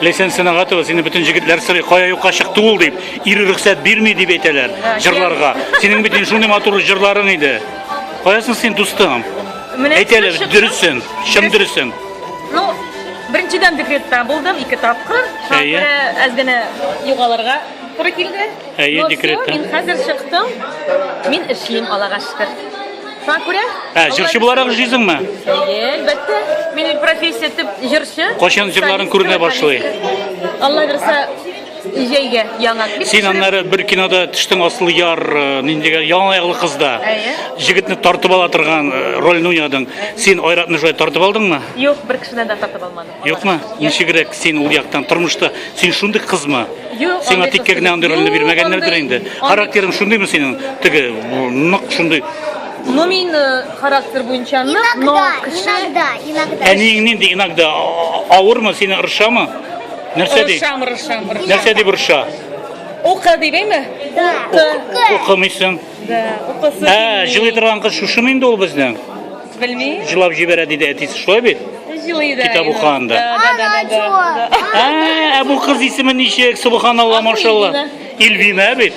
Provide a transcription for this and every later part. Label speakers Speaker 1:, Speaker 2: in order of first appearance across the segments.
Speaker 1: Лесен сынагатыгыз, сине бөтен җегетләр сырый, кая юкка чыкты ул дип, ире рөхсәт бирми дип әйтәләр җырларга. Синең бит инде шундый матур җырларың иде. Каясың син, дустым? Менә Әйтәләр, шушы- дөресен, чын дөресен. Ну,
Speaker 2: беренчедән декретта булдым, ике тапкыр. Шуңа Әйе. күрә әз генә югалырга туры килде. Әйе, Но всё, декретта. Мин
Speaker 1: хәзер чыктым.
Speaker 2: Мин эшлим, Аллага шөкер. Шуңа күрә? Ә, җырчы буларак
Speaker 1: җыйсыңмы? Әлбәттә.
Speaker 2: Минем профессия тип җырчы. Кайчан җырларын күренә
Speaker 1: башлый? Алла
Speaker 2: бирса, җәйгә яңа клип. Син аннары бер
Speaker 1: кинода төштең асыл яр, э, ниндигә яңа ягылы кызда. Әйе. Җегетне тартып ала торган э, рольне уйнадың. Син Айратны шулай тартып алдыңмы? Юк, бер кешедән дә тартып
Speaker 2: алмадым. Юкмы? Ничегрәк
Speaker 1: син ул яктан тормышта? Син шундый кызмы? Юк. Сиңа тиккә генә
Speaker 2: андый
Speaker 1: рольне бирмәгәннәрдер инде. Характерың шундыймы синең? Теге нык шундый. Ну мин
Speaker 2: э, характер буенча нык, но кеше иногда, иногда. Әниең
Speaker 3: нинди иногда
Speaker 1: авырмы сине ырышамы? Нәрсә ди? Ырышам, ырышам, ырышам. Нәрсә
Speaker 2: дип ырыша?
Speaker 1: Укы
Speaker 2: дибеме? Да. Укы.
Speaker 1: Укымыйсың. Да, укысы. Ә, җылый торган кыз шушымы инде ул безнең? Белмим.
Speaker 2: Җылап җибәрә диде
Speaker 1: әтисе, шулай бит? Җылый да. Китап
Speaker 2: укыганда. Да,
Speaker 1: да, да. Ә,
Speaker 2: ә бу кыз исеме ничек?
Speaker 1: Субханалла, машалла. Илвина бит.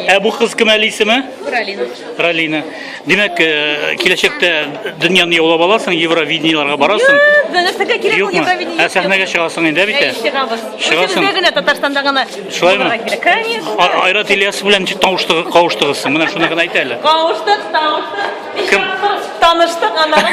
Speaker 1: Ә бу кыз кем әле исеме? Ралина. Ралина. Димәк, э, киләчәктә дөньяны яулап аласың, Евровидениеларга барасың. Нәрсәгә кирәк ул Юкмы?
Speaker 2: Евровидение? Ә сәхнәгә чыгасың инде
Speaker 1: бит. ә? Чыгабыз. Чыгасың. Бездә
Speaker 2: генә Татарстанда гына. Шулаймы? булырга
Speaker 1: кирәк. Конечно. А- Айрат
Speaker 2: Ильяс белән
Speaker 1: ничек тавыштыгы- кавыштыгыз? Менә шуны гына әйт әле. Кавыштык, тавыштык.
Speaker 2: Кем?
Speaker 1: Таныштык, аннары